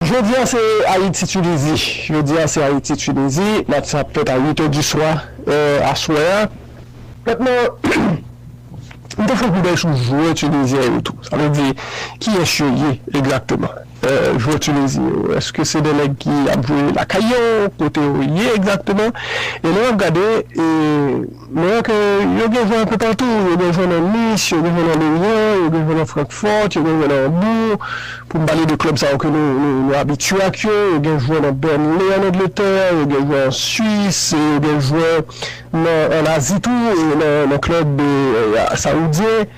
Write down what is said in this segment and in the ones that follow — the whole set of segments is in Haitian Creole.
Jodi a se Ayiti Tunizi Jodi a se Ayiti Tunizi Match sa ap fèt a 8 è di swa è aswè a Pèp lan M te fon koudèy sou jwè Tunizyen yo tou Sa vle di kiyès yo ye egzakteman è jwè Tunizi yo Èske se de nèg ki ap jwe lakay yo Kote yo ye egzakteman E lè w ap gade e Mwen kwè ke yo gen van toupatou, yo gen van nan Nice, yo gen van nan Lorient, yo gen van nan Francfort, yo gen van nan Hambourg, pou m pale de klèb sa yo ke nou abitye ak yo, yo gen jwè nan Burnley an Angletè, yo gen jwè an Swis, yo gen jwè an Azi tou, nan klèb Saoudyen.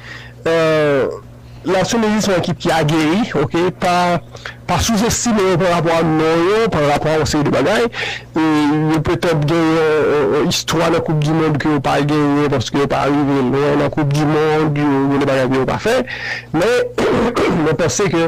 La Tunisie se yon ekip ki ageri ok pa pa souzestime yo parapò a non yo parapò a yon seri de bagay e yo petèt gen yon yon istwa nan koup di mond ke yo pa genyen paske yo pa rive lwen nan koup di mond yo gen de bagay ke yo pa fè men mwen panse ke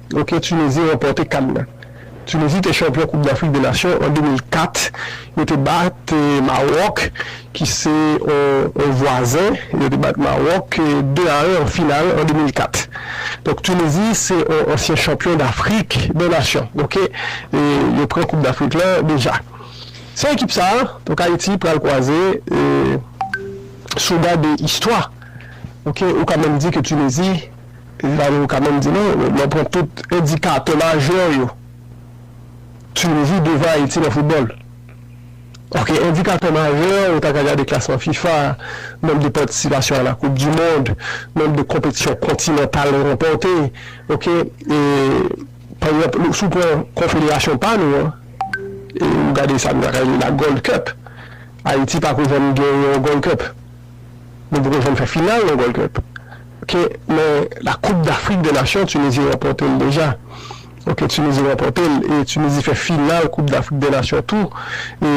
Ok Tunisie ranpòte kan nan. Tunisie te chanpyon koup dafrik de nasyon an 2004 yo te bat Maroc ki se yon vwazen yo te bat Maroc 2 a 1 an final an 2004 donk Tunisie se yon ansyen chanpyon dafrik de nasyon ok yo pran koup dafrik lan deja se ekip sa donk Haïti pral kwaze souda de istwa ok ou ka menm di ke Tunisie Evany ou ka menm di non, lè w pran tout endikatè majè yo, Tunizi devan Ayiti nan foutbòl. Ok, endikatè majè, ou ta ka gade klasman fifa, nonb de patisipasyon a la koup di mond, nonb de konpetisyon kontinantal yo ranpòte, ok, e pa egzanp si w pran konfederasyon pa nou an, e ou gade sa nou ta ka rele la Gold Cup, Ayiti pa ko janm genyen yon Gold Cup. Nou poko janm fè final non Gold Cup ok men la koup dafrik de nasyon Tunizi ranpòte l deja ok Tunizi ranpòte l e Tunizi fè final koup dafrik de nasyon tou e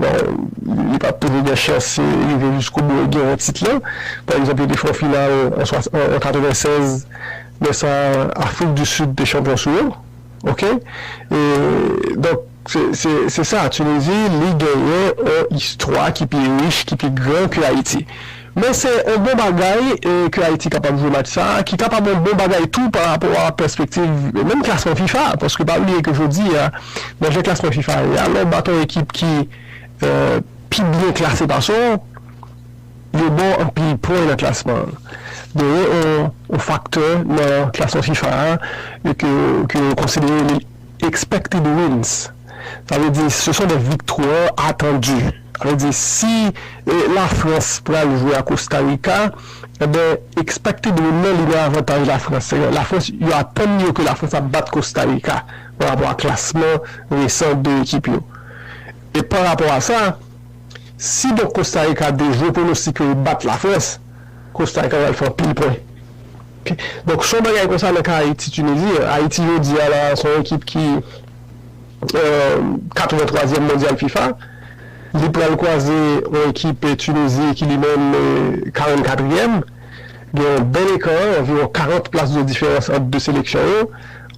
bon li pat toujou gen chans rive jiskobou e genyen tit lan pa egzanp yo te fè yon final an 96 men sa Afrik di Sid te chanpyon sou yo ok e donk. Se sa, Tunizi, li genyen on istwa ki pi rich, ki pi gran ke Ayiti. Men se on bon bagay ke Ayiti kapab jwe match sa a, ki kapab on bon bagay tou pa rapò a pèspektiv menm klasman fifa. Paske pa bliye ke jodi a, nan jan klasman fifa ye a, lè w bat on ekip ki pi byen klase pase w, yo ba w anpil pwen nan klasman an. Genyen on faktè nan klasman fifa a ke yo konsidere. Expected wins, sa vle di se son de viktwa atandu. Sa vle di si la France pral jwe a Costa Rica, enben expected win nan li nan avantaj la France. Se la France, yo atann yo ke la France ap bat Costa Rica pa rapò a klasman resan 2 ekip yo. E pa rapò a sa, si donk Costa Rica dejwe pwonostik yo, yo bat la France, Costa rica pral fè anpil pwen donk son bagay konsa nan ka ayiti tunizi ayiti jodi a la son ekip ki 83 zièm mondyal fifa li pral kwaze yon ekip tunizi ki li menm 44 zièm gen yon bèl ekan anviwon 40 plas de diferans ant 2 seleksyon yo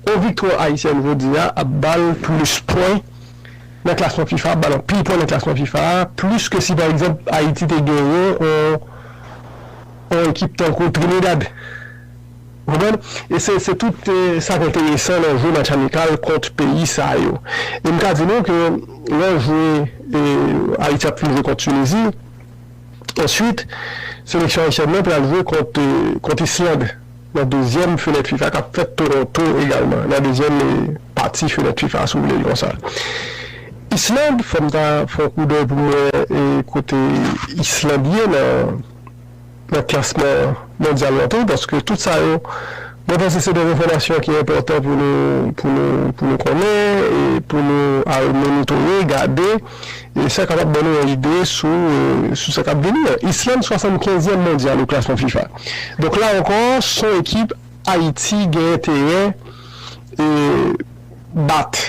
yon viktwa ayisyèn jodi a ap bal plis pwen nan klasman fifa a, bal anpil pwen nan klasman fifa a, plis ke si pa egzanp Ayiti te genyen yon ekip tankou Trinidad. Ou konprann? E se tout sa ki enteresan nan jwe match amikal kont peyi sa yo. E m ka di nou ke lè w jwe, Ayiti ap fin jwe kont Tunizi, answit seleksyon ayisyèn nan pral jwe kont Island. Nan dezyèm fenèt fifa k ap fèt Toronto egalman, nan dezyèm pati fenèt fifa si w vle li konsa. Island fò m ta fè yon koudèy pou m wè kote Island ye nan klasman mondyal lan tou paske tout sa yo mwen panse se de enfòmasyon ki enpòtan pou nou konnen e pou nou al monitore, gade. E sa kapab ban nou yon ide sou sou sa k ap vini an. Islande 75 yèm mondyal o klasman fifa. Donk la ankò son ekip Ayiti gen enterè e bat.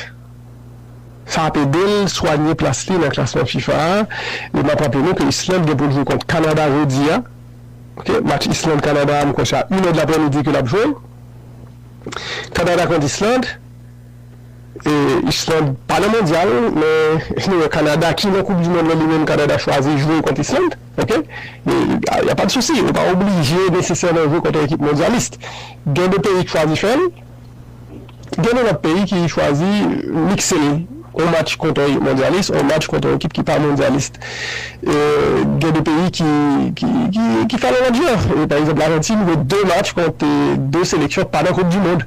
Sa ap ede l swanye plas li nan klasman fifa a. E m ap raple nou ke Islande gen pou l jwe kont Kanada jodi a ok. Match Islande Kanada a m kwè se a inèdlaprèmidi ke l ap jwe. Kanada kont Islande. Island pa nan mondyal men nou wè Canada ki nan koup di mond lan li menm Canada chwazi jwe kont Island ok ya pa de sousi ou pa oblije nesesèman jwe kont yon ekip mondyalis gen de peyi ki chwazi fèl gen de lòt peyi ki chwazi mikse l yon match kont yon mondyalis yon match kont yon ekip ki pa mondyalis gen de peyi ki fèl yon lòt jan pa egzanp Larentin jwe 2 match kont 2 seleksyon ki pa nan koup di mond.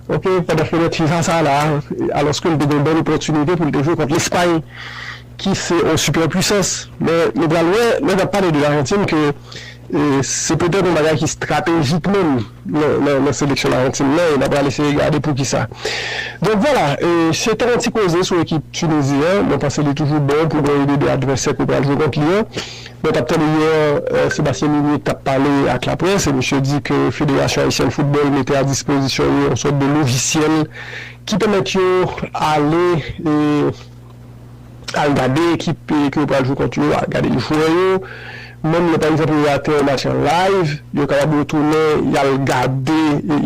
Ok, pandan fenèt fifa sa la, alòske li te gen yon bèl opòtinite pou li te jwe kont Lespay ki se yon sipè pwisans, men nou pral wè lè n ap pale de Larentin ke se petèt yon bagay ki estratejik menm nan seleksyon Larentin nan e n ap pral eseye gade poukisa. Donk vwala, se te yon ti koze sou ekip Tinizi an, mwen panse li toujou bon pou gade de advèsè ke w pral jwe kont li an. Mwen tap tande yè Sébastien Minier tap pale ak laprès e misye di ke Federasyon Ayisyèn Foutbòl mete a dispozisyon yo yon sòt de lojisyèl ki pèmèt yo ale e al gade ekip ke yo pral jwe kont yo, al gade jwè yo. Menm lè pa egzanp yo rate yon match an live, yo kapab retounen y al gade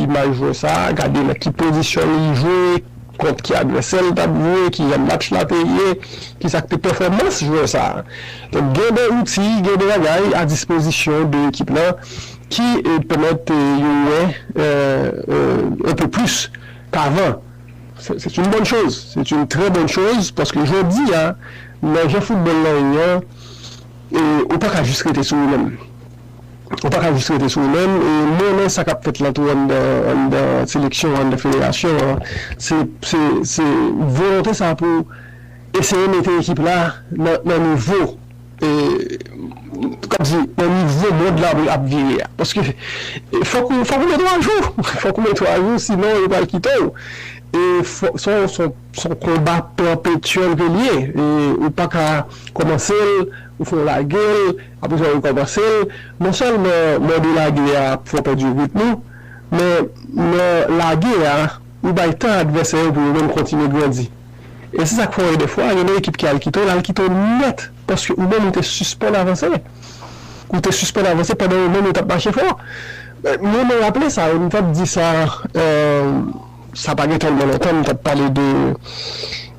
imaj jwè sa a, gade nan ki pozisyon li jwe. kont ki advèsè l t ap jwe, ki jan match la te ye, ki sa k te pèfòmans jwè sa a. Donk gen de zouti, gen de bagay a dispozisyon de ekip la ki pèmèt yo wè un peu plus qu'avant. C'est une bonne chose, c'est une très bonne chose paske jodi a nan jan foutbòl la ye an ou pa ka jis rete sou ou menm. Ou pa ka jis rete sou ou menm. E m renmen sa k ap fèt la tou anndan seleksyon an, anndan federasyon an. Se volonte sa pou eseye mete ekip la nan nivo mond la ap vire a. Paske fòk ou mete w ajou. Fòk ou mete w ajou sinon yo pral kite w. E se yon konba pèpetyèl ke l ye. Ou pa ka kòmanse l, ou fè w lage l. Apre sa yo kòmanse l, non sèlman mòde lage a ap fè w pèdi ritm ou, men nan lage a, ou bay tan advèsè yo pou yo menm kontinye grandi. E se sa k fè w wè dèfwa gen yon ekip ki al kite w, l al kite w nèt paske ou menm ou te sispann avanse. Ou te sispann avanse pandan yo menm yo t ap mache fò. Mwen raple sa, m t ap di sa. Sa pa gen tèlman lontan m t ap pale de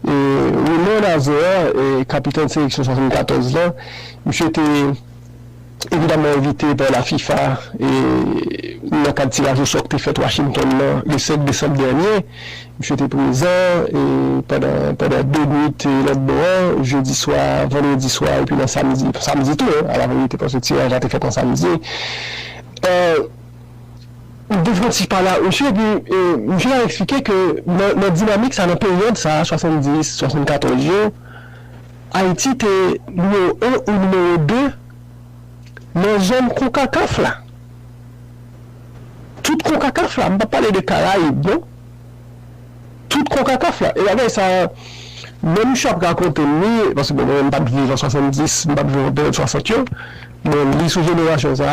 Raymond Azéa, kapitèn seleksyon 74 lan. Misye te evidaman envite pa la fifa nan kad tiraj osò k te fèt Washington nan le 5 desanm dènye. Misye te prezan pandan de nuit lòt bò an, jedi swa, vandredi swa epi nan samdi, samdi tou alaverite paske tiraj la te fèt nan samdi. Ou te fon ti pale ak misye epi misye ta eksplike ke nan dinamik sa, nan peryòd sa, 70, 74 yo, Ayiti te nimewo 1 ou nimewo 2 nan zòn konkakaf la. Tout konkakaf la, m pa pale de karayib non. Tout konkakaf la. E bagay sa, lè misye ap rakonte m li, paske mwen menm m pat viv an 70, m pat viv an peryòd 60 yo, men m li sou jenerasyon sa.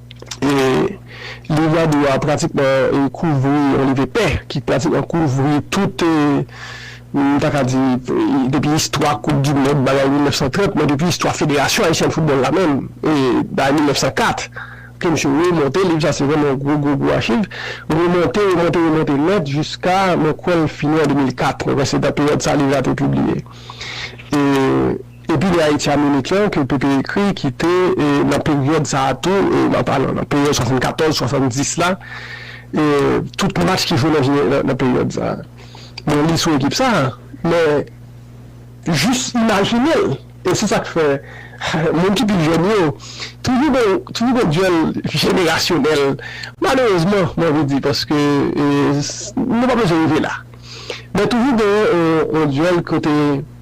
Liv la dwe pratikman kouvri yon liv epè ki pratikman kouvri tout, m ta ka di, depi istwa koup di mond bagay 1930, men depi istwa Federasyon Ayisyèn Foutbòl la menm bay 1904 ke misye remonte. Liv sa se vrèman yon gwo gwo gwo achiv. Remonte, remonte, remonte nèt jiska mwen kwè l fini an 2004. Mwen kwè se nan peryòd sa liv la te pibliye. Epi lè Ayiti a mele klè ke Pepe ekri ki te nan peryòd sa a tou, nan pa nan, nan peryòd 74, 70 la, tout match ki jwe nan jenera, nan, nan peryòd sa a. Mwen li sou ekip sa a, men jis imajine l. E se sa k fè moun ki pi jèn yo, toujou gen yon, toujou gen yon dyòl jenerasyonèl, malerezman mwen anvi di, paske nou pa bezwen rive la. Men toujou gen yon dyòl kote.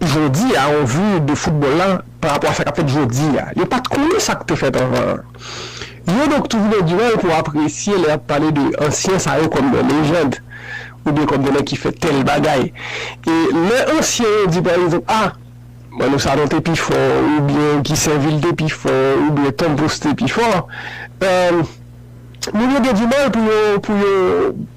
Jodi a on vu de football la pa rapò a sa kap fèt jodi a. Yo pat konnen sak te fèt anvan an. Yo donk toujou nan diwèl pou apresye lè yap pale de ansyen sa yo kòm de lejand ou byen kòm de nèg ki fè tèl bagay. E lè ansyen yo di pa egzanp ah Manno Sanon te pi fò ou byen Guy Sainvil te pi fò ou byen Tom Pouce te pi fò eh Moun yo gen dimal pou yo pou yo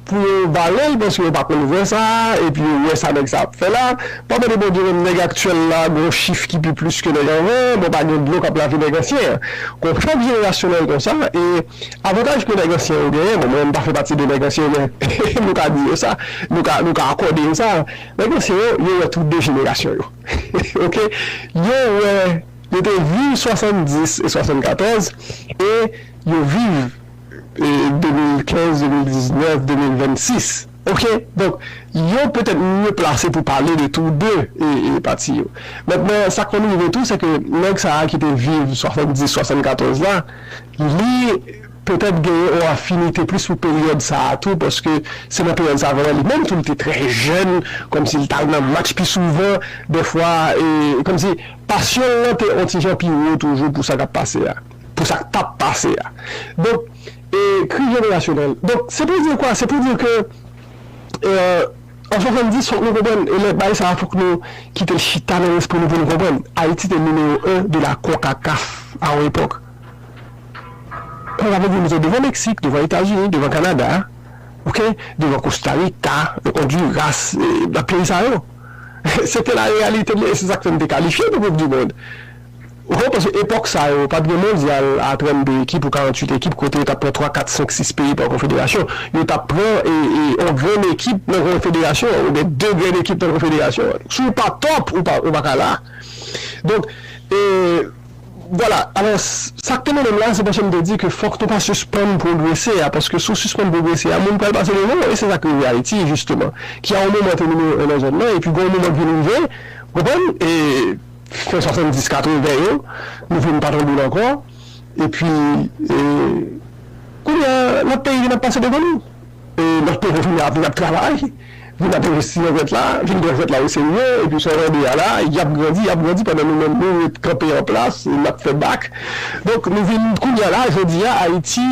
pou yo valel paske yo pa konn vrè sa epi yo wè sa nèg sa ap fè la pa mande Bondye menm nèg aktyèl la gon chif ki pi plis ke nèg anvan an bon pa gen dlo kap lave nèg ansyen an kon chòk jenerasyonèl konsa e avantaj ke nèg ansyen yo genyen bon mwen m pa fè pati de nèg ansyen yo men nou ka di yo sa nou ka nou ka akòde yo sa nèg ansyen yo yo wè tout de jenerasyon yo ok yo wè. Yo te viv 70 e 74 e yo viv 2015, 2019, 2026. Ok. Donk, yo petèt mye plase pou pale de tou de pati yo. Mentnan, sa k konn rive tou, sèke nèg sa a ki te viv 70, 74 la, li petèt gen yon afinite plis pou peryòd sa a tou, paske se nan peryòd sa a vrèman li menm tou li te trè jèn, kòmsi li t al nan match pi souvan, dèfwa, e kòmsi. Pasyon l lan te yon ti jan pi wo toujou pou sa k ap pase a, pou sa k t ap pase a. Donk, e kri jenerasyonèl. Donk, se pou di kwa? Se pou di ke an 70, fòk nou konprann, e lè bay sa a fòk nou kite l chita nan lespri nou pou nou konprann, Ayiti te nimewo 1 de la konkakaf a yon epòk. Sa vle di nou te devan Meksik, devan Etazini, devan Kanada, ok, devan Kostarika, Ondiras, e lòt peyi sa yo. Se te la reyalite nou e se sa k fè n te kalifye pou koup di mond. Ou konn paske epòk sa yo pa t gen mondyal a 32 ekip ou 48 ekip kote yo t ap pran 3, 4, 5, 6 peyi pa konfederasyon. Yo t ap pran yon grenn ekip nan konfederasyon an oubyen 2 grenn ekip nan konfederasyon an. Si w pa tòp ou pa ka la. Donk. Vwala, alò, sa k te mennen m la a, se paske m te di ke fòk nou pa sispann pwogrese a, paske si w sispann pwogrese a, moun pral pase devan w, e se sa k rive Ayiti, jisteman, ki a yon moman te nimewo 1 nan zòn nan, epi gen yon moman k vin rive, ou konprann, e fen 70, 80 yo, nou vin pa tande l ankò, epi, e, kounye a, lòt peyi vin ap pase devan nou. Nan peyi vin ap vin ap travay vin ap envesti nan jwèt la vin pran jwèt la oserye epi sa w tande a la y ap grandi y ap grandi pandan nou menm nou ret kanpe an plas n ap fè bak donk nou vin kounye a la jodi a ayiti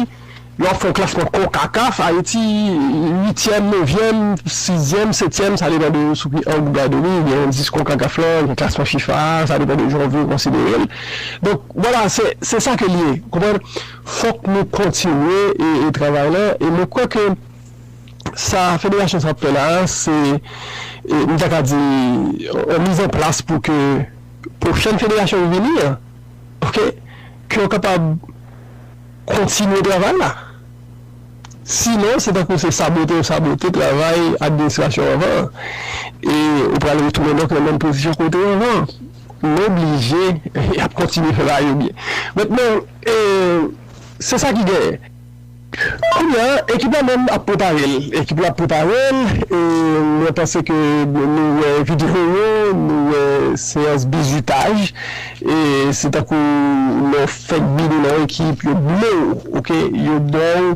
lè w ap fè yon klasman konkakaf ayiti uityèm nevyèm sizyèm setyèm sa depan de sou ki ang ou gade li gen endis konkakaf la gen klasman fifa a sa depan de jan w vle w konsidere l donk wala se sa ke l ye w konprann. Fòk nou kontinye e travay la e mwen kwè ke sa federasyon sa ap fè la a se m ta ka di yon miz an plas pou ke pwochèn federasyon ki vini an ok ke yo kapab kontinye travay la sinon se tankou se sabote yo sabote travay administrasyon anvan an e ou pral retounen donk nan menm pozisyon kote anvan an. M oblije y ap kontinye fè bagay yo byen. Met men e se sa ki genyen. Kounya ekip la menm ap prepare l. Ekip la ap prepare l e mwen panse ke nou wè videyo yo, nou wè seyans bizutaj e se tankou lè w fèk bini nan ekip yo blo w ok, yo ba w.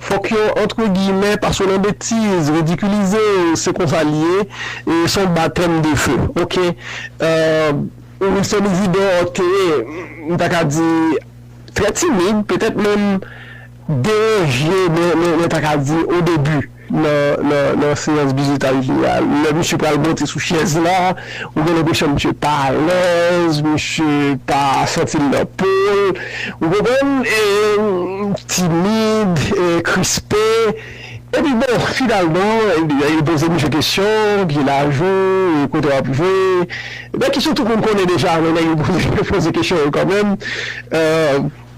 Fòk yo antre giyimè pa sou nan betiz, ridikilize yo, se konsa li ye, se yon batèm de fe ok. Wilson Isidore te, m ta ka di, trè timid, petèt menm deranje, mwen ta ka di, odebi. nan seyans bizutaj li a, lè misye pral monte sou chèz la, ou gen lenpresyon misye pa alèz, misye pa santi l nan po l, ou konprann, e timid, e krispe. Epi bon, finalman, yo poze misye kesyon, ki laj ou, e kote w ap jwe, nan kesyon tout moun konnen deja, men nèg yo poze kesyon yo kanmenm.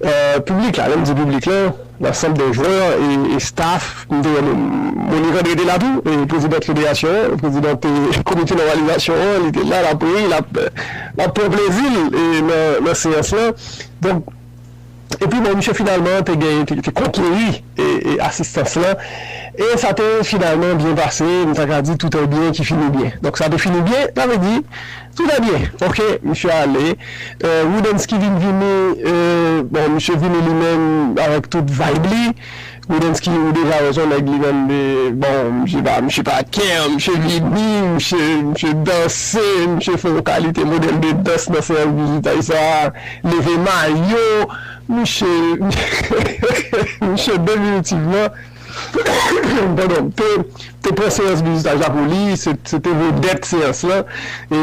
Piblik la, lè m di piblik la, lansanb de jwè e estaf, m te wè Monique André te la tou, prezidant federasyon an, prezidant komite nòmalizasyon an, li te la, l ap ri, l ap pran plezi l nan seyans lan. Donk, epi bon, misye finalman te gen, te konkeri asistans lan e sa te finalman byen pase, m ta ka di tout un bien qui finit bien. Donk sa te fini byen, sa vle di. Tout va bien ok misye ale Roodensky vin vini bon misye vini li menm avèk tout vibe li Roodensky ou deja wè son nèg li menm bon misye pa misye pa kè misye vini misye misye danse misye fè yon kalite modèl de dans nan seyans bizutaj sa leve mayo misye misye definitivman. te pran seyans bizitaj la pou li, se te vedèt seyans lan, e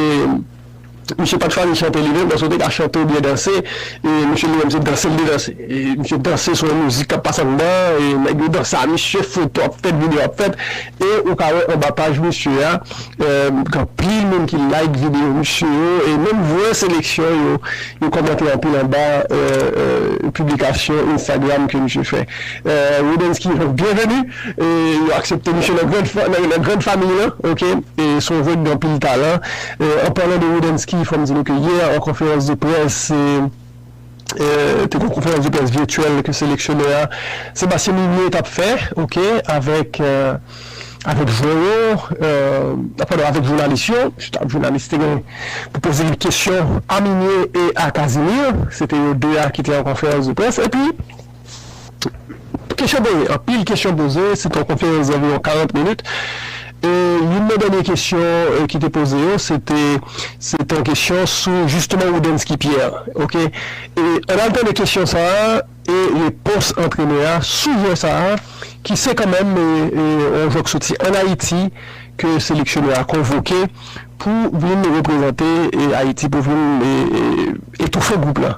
misye pat fasil chante li menm, paske ou te ka chante ou byen danse, e misye li menm se danse li te danse, e misye danse sou yon mizik kap pase anndan, e nèg yo danse a misye, foto ap fèt, video ap fèt, e ou ka wè anba paj misye a, gen anpil moun ki like video misye yo, e menm vwè seleksyon yo, yo kòmante anpil anba piblikasyon Instagram ke misye fè. Roodensky byenveni e yo aksepte misye nan grand famiy lan ok e son jwè ki gen anpil talan an palan de Roodensky fòm di nou ke yè an konferans de près te gen konferans de près virtuel ke seleksyonè a Sébastien Migné tap fè ok avèk avèk jwè yo padon avèk jounalis yo jounalis te gen pou poze li kesyon a Migné e a Casimir se te yo 2 a ki te an konferans de près epi. Kesyon poze, anpil kesyon poze, se te yon konferans zanviwon 40 minit e youn nan dènye kesyon ki te poze yo se te se te yon kesyon sou jisteman Roudensky Pierre ok e ann al tande kesyon sa a e repons antrenè a sou jwè sa a ki se kanmenm yon jwè ki soti ann Ayiti ke seleksyonè a konvoke pou vin reprezante Ayiti pou vin etoufe gwoup la.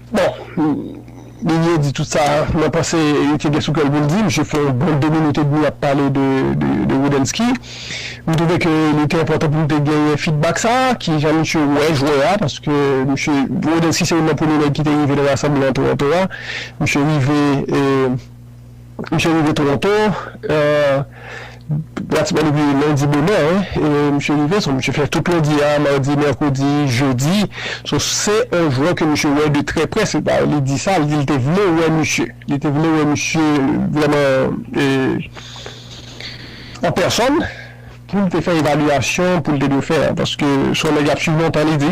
Bon, Ninie di tout sa mwen panse li te gen sou kè l pou l di. Misye fè yon bon 2 minit edmi ap pale de Roodensky. M twouve ke li te enpòtan pou m te genyen fidbak sa a, ki jan misye wè jwè a, paske misye, Roodensky se youn nan premye nèg ki te rive nan rasanbleman Toronto a. Misye rive e. Misye rive Toronto pratiman depi lendi bonè misye rive, so misye fè tout lendi a, madi, mèkredi, jedi, so se yon jwè ke misye wè de trè prè, se pa li di sa, li di li te vle wè misye, li te vle wè misye vrèman an pèsòn poul te fè evalyasyon poul te dwe fè a, paske son nèg lap swiv lontan li di.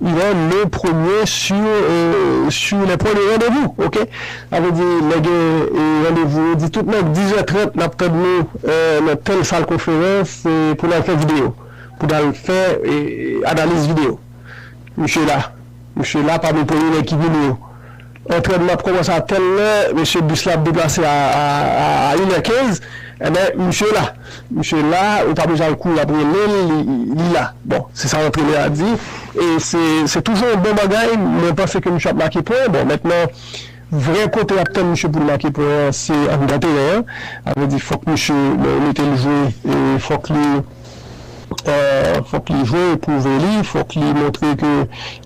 Lè le premye sur sur les points de rendez-vous ok sa vle di lè gen randevou yo di tout nèg dizè trant nap tann nou nan tèl sal konferans pou nal fè video pou nal fè analiz video misye la misye la pami premye nèg ki vini yo Antrènman ap kòmanse a tèl lè mesye bis la ap deplase a a inè kenz enben misye la misye la ou pa bezwen al kouri ap rele l li la bon se sa antrenè a di e se se toujou yon bon bagay mwen panse ke misye ap make pwen bon mètnan vrè kote y ap tann misye pou l make pwen an se anndan teren an sa vle di fòk misye mete l jwe e fòk li. Fòk li jwe pwouve li, fòk li montre ke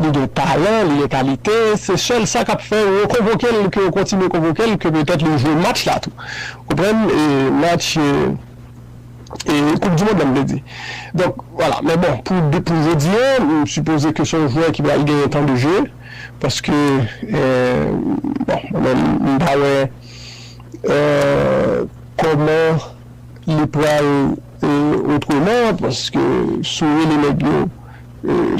li gen talan, li gen kalite, se sèl sa kap fè yo konvoke l, ke yo kontinye konvoke l, ke petèt li jwe match la tou. Ou konprann? Match koup di mond lan m vle di. Donk, wala. Men bon, pou jodi an, m sipoze ke se yon jwè ki pral genyen tan de je, paske bon, mwen menm m pa wè kòman li pral. Otreman, paske si w rele nèg yo,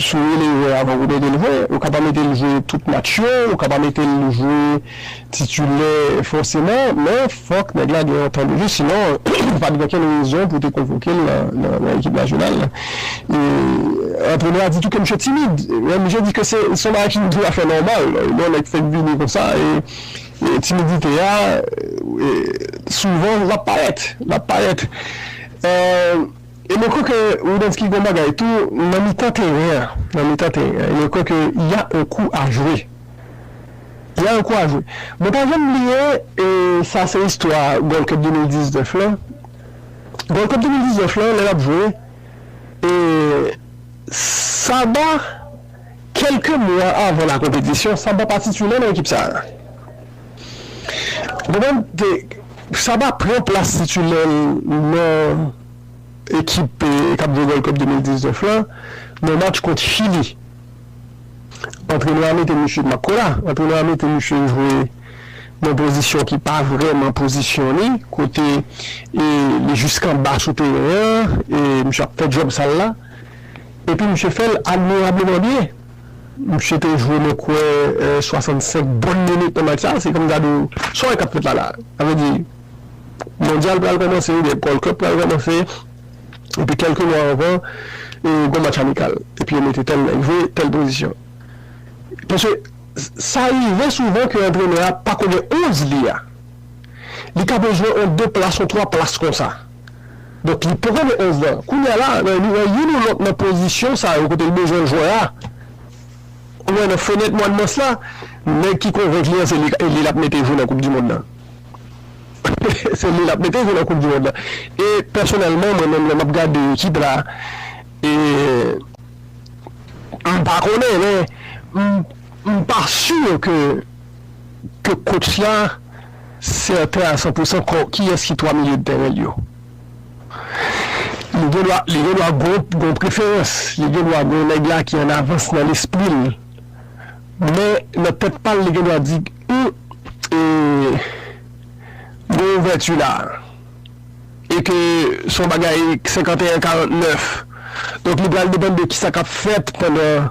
si w rele jwè avan pou w mete l jwe, ou ka pa mete l jwe tout match yo, ou ka pa mete l jwe titilè fòseman, men fòk nèg la gen yon tan de jwe, sinon pa t gen okenn rezon pou w te konvoke l nan ekip nasyonal la. Antrenè a di tou ke misye timid, men misye di ke se yon bagay ki dwe a fè nòmal, non nèg fèk vini konsa e. Timidite a, souvan, l ap parèt. L ap parèt. E mwen kwè ke Woodensky gen yon bagay tou, nan mitan teren an, nan mitan teren an, mwen kwè ke y a yon kou a jwe. Y a yon kou a jwe. Mwen pa janm bliye, e sa se istwa Gold Cup 2019 lan. Gold Cup 2019 lan, lè l ap jwe, e Saba. Kèlke mwa avan la konpetisyon, Saba pa titulè nan ekip sa a. Goubèn te, Saba pran plas titulè l nan ekip k ap jwe Gold Cup 2019 la nan match kont Chili. Antrenè a mete misye Makola. Antrenè a mete misye jwe nan pozisyon ki pa vrèman pozisyon li, kote li jis anba sou teren an e misye ap fè djòb sal la. Epi misye fè l admirableman byen. Misye te jwe mwen kwè 65 bon minit nan match sa. Se kòm gade w, sa w wè k ap fèt la la? Sa vle di mondyal pral kòmanse oubyen Gold Cup pral kòmanse epi kèlke mwa anvan gon match amikal epi yo mete tèl nèg jwe tèl pozisyon. Paske sa rive souvan ke antrenè a pa konnen 11 li a. Li ka bezwen on 2 plas, on 3 plas konsa. Donk li poko gen 11 nan. Kounye a la, nan youn ou lòt nan pozisyon sa yo kote l bezwen jwè a, ou wè nan fenèt mwa mas la, nèg ki konvenk li an se li l ap mete jwe nan koupdimond la. Se li l ap mete jwe nan koupdimond la. E pèsonèlman, mwen menm lè m ap gade ekip la, m pa konnen men m pa si ke kotch la. sèten a san pousan kò kiyès ki twa milye tèren l yo. Li gen dwa li gen dwa gwo gwo preferans, li gen dwa gwo nèg la ki an avans nan lespri l. Men nan tèt pa l li gen dwa di, Hum, e gwo ouvèti la a. E ke s on bagay 51 49. Donk li pral depann de kisa k ap fèt pandan.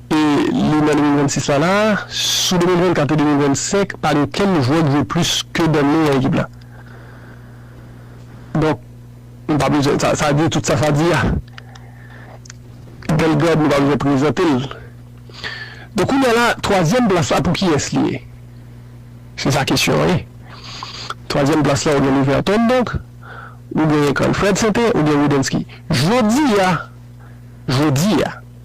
E li nan 2026 la la, sou 2024 e 2025 pa gen okenn jwè k jwe plis ke Danley nan ekip la. Donk nou pa bezwen, sa di tout sa sa di a. Bellegarde nou pa bezwen prezante l. Donk kounye a la, twazyèm plas la pou kiyès li ye? Se sa kesyon an ye. Twazyèm plas la ou gen Leverton donk, ou gen Cranford Sente, ou gen Widensky. Jodi a, jodi a.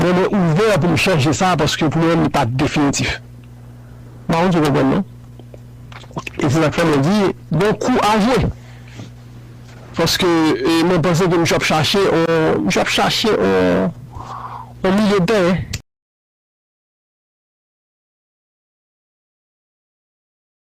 Men mwen ouvè pou m chanje sa paske pou mwen li pa definitif. M pa konn si w konprann non. E se sa k fè mwen di gen kou a jwe. Paske mwen panse ke misye ap chache on, misye ap chache on milye de tèren.